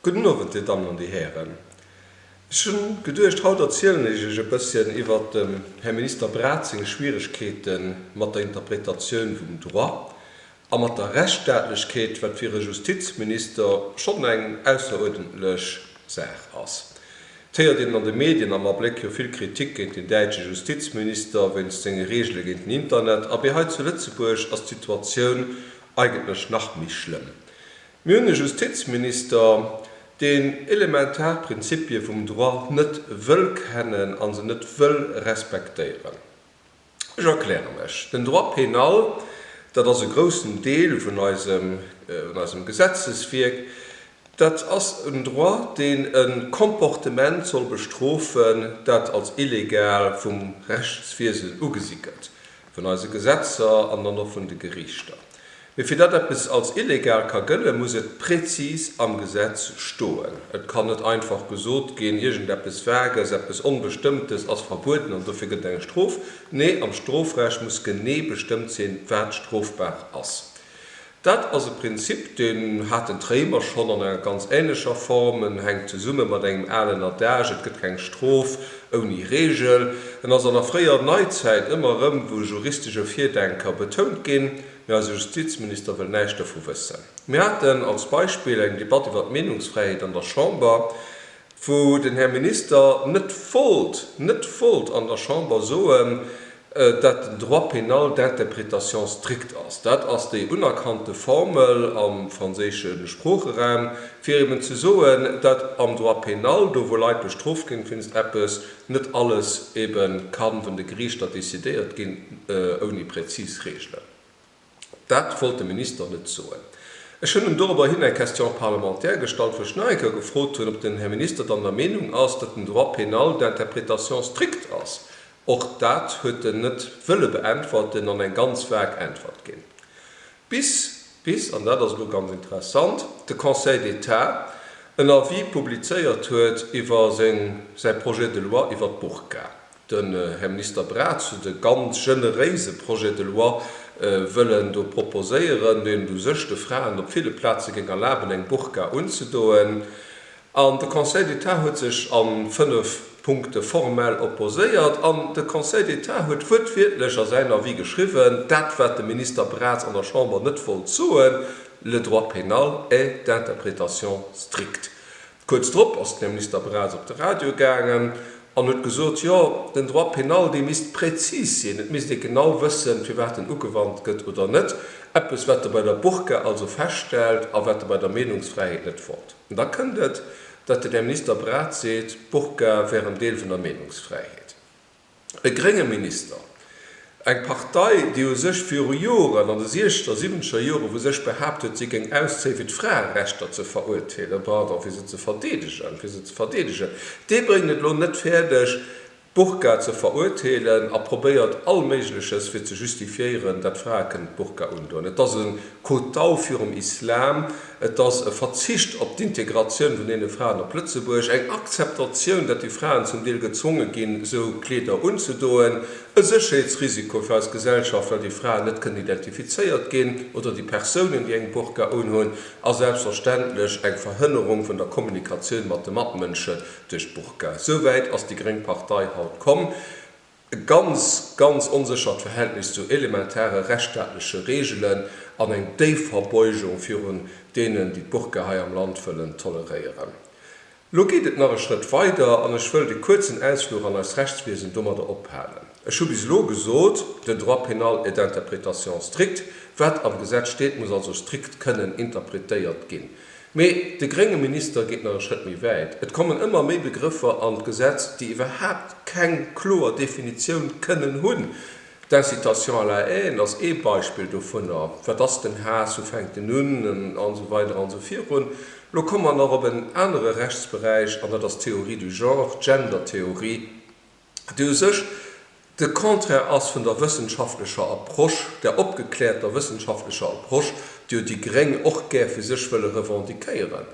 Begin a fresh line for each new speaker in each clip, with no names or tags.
Gudden Owend, Dir Dammen an Dir Hären. Ech hunn geduecht, haut erzielen ech Iech e bësschen iwwert dem Här Minister Braz seng Schwieregkeete mat der Interpretatioun vum Droit a mat der Rechtsstaatlechkeet, wat fir e Justizminister schonn eng ausseruerdentlech Saach ass. Et héiert een an de Medien am Abléck jo vill Kritik géint den däitsche Justizminister wéinst senge Reegele géint den Internet. Abee, hei zu Lëtzebuerg ass d'Situatioun Eigentlech nach méi schlëmm. Mir hunn e Justizminister, deen elementar Prinzipie vum Droit net wëll kennen a se net wëll respektéieren. Ech erkläre mech, Den Droit pénal, dat ass e groussen Deel vun eisem Gesetzeswierk, dat ass en Droit, deen e Comportement soll bestrofen, dat als illegal vum Rechtswiesen ugesi gëtt. vun eise Gesetzer an dann och vun de Gerichter. Mee fir datt eppes als illegal ka gëllen, muss et prezis am Gesetz stoen. Et kann net einfach gesot ginn, iergendeppes Vagues, eppes Onbestëmmtes ass verbueden an dofir gëtt et eng Strof. Nee, am Strofrecht muss genee bestëmmt sinn, wat strofbar ass. Dat ass e Prinzip, deen haten d'Réimer schonn an enger ganz änlecher Form. En hänkt zesumme mat engem alen Adage, Et gëtt keng Strof ouni Reegel. En ass an der fréier Neizäit ëmmer erëm vu juristesche Virdenker betount ginn, mee eise Justizminister wëll näischt dovu wëssen. Mir haten als Beispill eng Debatt iwwer d'Meenungsfräiheet an der Chamber. wou den Här Minister net wollt, net wollt an der Chamber soen, dat den Droit pénal d'interprétation stricte ass. Dat ass déi unerkannte Formel am franséische Sproocheraum, fir eben ze soen, dat am Droit pénal, do wou Leit bestrooft ginn wéinst eppes, net alles ebe ka vun de Geriichter decidéiert ginn, ouni präzis Reegelen. Dat wollt de Minister net soen. Ech hunn em dorobber hin eng Question parlementaire gestallt, wou ech nach eng Kéier gefrot hunn, ob den Här Minister dann der Meenung ass, datt den Droit pénal d'interprétation stricte ass. Och dat huet en net wëlle beäntwerten an eng ganz vague Äntwert ginn. Bis, bis, an dat ass elo ganz interessant, de Conseil d'État en Avis publizéiert huet iwwer seng, säi Projet de loi iwwer d'Burka. Den Här Minister Braz huet e ganz generéise Projet de loi wëllen do proposéieren, deen u sech de Fraen op ville Plaze géing erlaben, eng Burka unzedoen. An de Conseil d'État huet sech a fënnf Punkte formell opposéiert. An de Conseil d'État huet wuertwiertlech a säin Avis geschriwwen, dat, wat de Minister Braz an der Chamber net wollt soen, Le droit pénal est d'interprétation stricte. Kuerz drop ass den Här Minister Braz op de Radio gaangen an huet gesot, jo, den Droit pénal, dee misst präzis sinn, et misst ee genau wëssen, firwat en ugewannt gëtt oder net. Eppes, wat Der bei der Burka also feststellt a wat Der bei der Meenungsfräiheet net wollt. An da kënnt et, datt den Här Minister Braz seet, d'Burka wär en Deel vun der Meenungsfräiheet. e grénge Minister, eng Partei, déi u sech viru Joren, an de siechzeger, siwwenzeger Joren, vu sech behaapt huet, si géing auszéien, fir d'Fraerechter ze veruerteelen, pardon, fir se ze verdeedegen, fir se ze verdeedegen, dee bréngt et elo net fäerdeg, d'Burka ze veruerteelen a probéiert Allméigleches, fir ze justifiéieren, dat Frae kënnen d'Burka undoen. Et ass e Kotau virum Islam. Et ass e Verzicht op d'Integratioun vun deene Fraen op Lëtzebuerg, eng Akzeptatioun, datt déi Fraen zum Deel gezwonge ginn, esou Kleeder unzedoen, e Sécherheetsrisiko fir eis Gesellschaft, well déi Fraen net kënnen identifizéiert ginn, oder déi Persounen, déi eng Burka unhunn, a selbstverständlech eng Verhënnerung vun der Kommunikatioun mat de Matmënsche duerch d'Burka. Esou wäit ass déi gréng Partei haut komm. E ganz, ganz onséchert Verhältnis zu elementare rechtsstaatleche Reegelen an eng déif Verbeugung virun deenen, déi d'Burka hei am Land wëllen toleréieren. Elo geet et nach e Schrëtt weider an ech wëllt e kuerzen Ausfluch an eist Rechtswiesen domadder ophalen. Ech hu bis elo gesot, den Droit pénal est d'interprétation stricte, wat am Gesetz steet, muss also strikt kënnen interpretéiert ginn. Mee de grénge Minister geet nach e Schrëtt méi wäit, Et kommen ëmmer méi Begrëffer an d'Gesetz, déi iwwerhaapt keng kloer Definitioun kënnen hunn. D'Incitation à la haine ass ee Beispill dovunner. Wat ass den Haass, wou fänkt en un an esou weider an esou virun. Lo komme mer nach op en anere Rechtsberäich, an dat ass d'Théorie du genre, d'Gendertheorie. déi u sech de Contraire ass vun der wëssenschaftlecher Approche, där opgekläerter wëssenschaftlecher Approche, déi jo déi Gréng och gär fir sech wëlle revendiquéieren.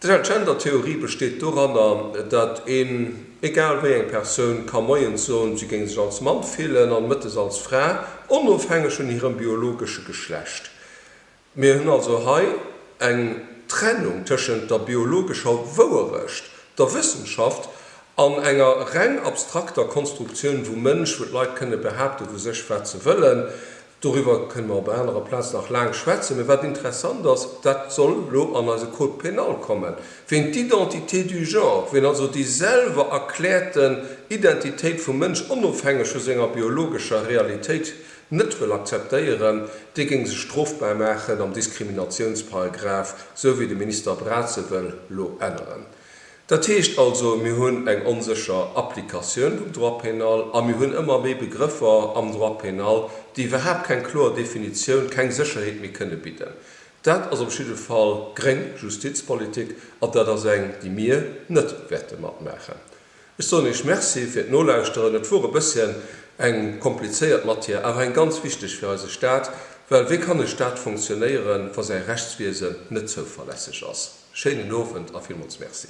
D'Gender-Theorie besteet doranner, datt een, egal wéi eng Persoun, ka moies soen, si géing sech als Mann fillen an mëttes als Fra, onofhängeg vun hirem biologesche Geschlecht. Mir hunn also hei eng Trennung tëschent der biologescher Wouerecht, der Wëssenschaft, an enger reng abstrakter Konstruktioun vum Mënsch, wou d'Leit kënne behaapte vu sech, wat se wëllen. Doriwwer kënne mer op enger anerer Plaz nach laang schwätzen. Mee wat interessant ass, dat soll elo an eise Code pénal kommen, ween d'identité du genre, ween also déi selwer erkläerten Identitéit vum Mënsch, onofhängeg vu senger biologescher Realitéit, net wëll akzeptéieren, dee géing sech strofbar maachen am Diskriminatiounsparagraf, esou wéi de Minister Braz e wëll elo änneren. Dat heescht also, mir hunn eng onsécher Applikatioun vum Droit pénal a mir hunn ëmmer méi Begrëffer am Droit pénal, déi iwwerhaapt keng kloer Definitioun, keng Sécherheet méi kënne bidden. Dat ass op jidde Fall gréng Justizpolitik an dat ass eng, déi mir net wäerte matmaachen. Ech soen Iech Merci fir d'Nolauschteren. Et wor e bësschen eng komplizéiert Matière, awer eng ganz wichteg fir eise Staat, well wéi kann e Staat fonctionnéieren, wa säi Rechtswiesen net zouverlässeg ass? Schéinen Owend a villmools Merci.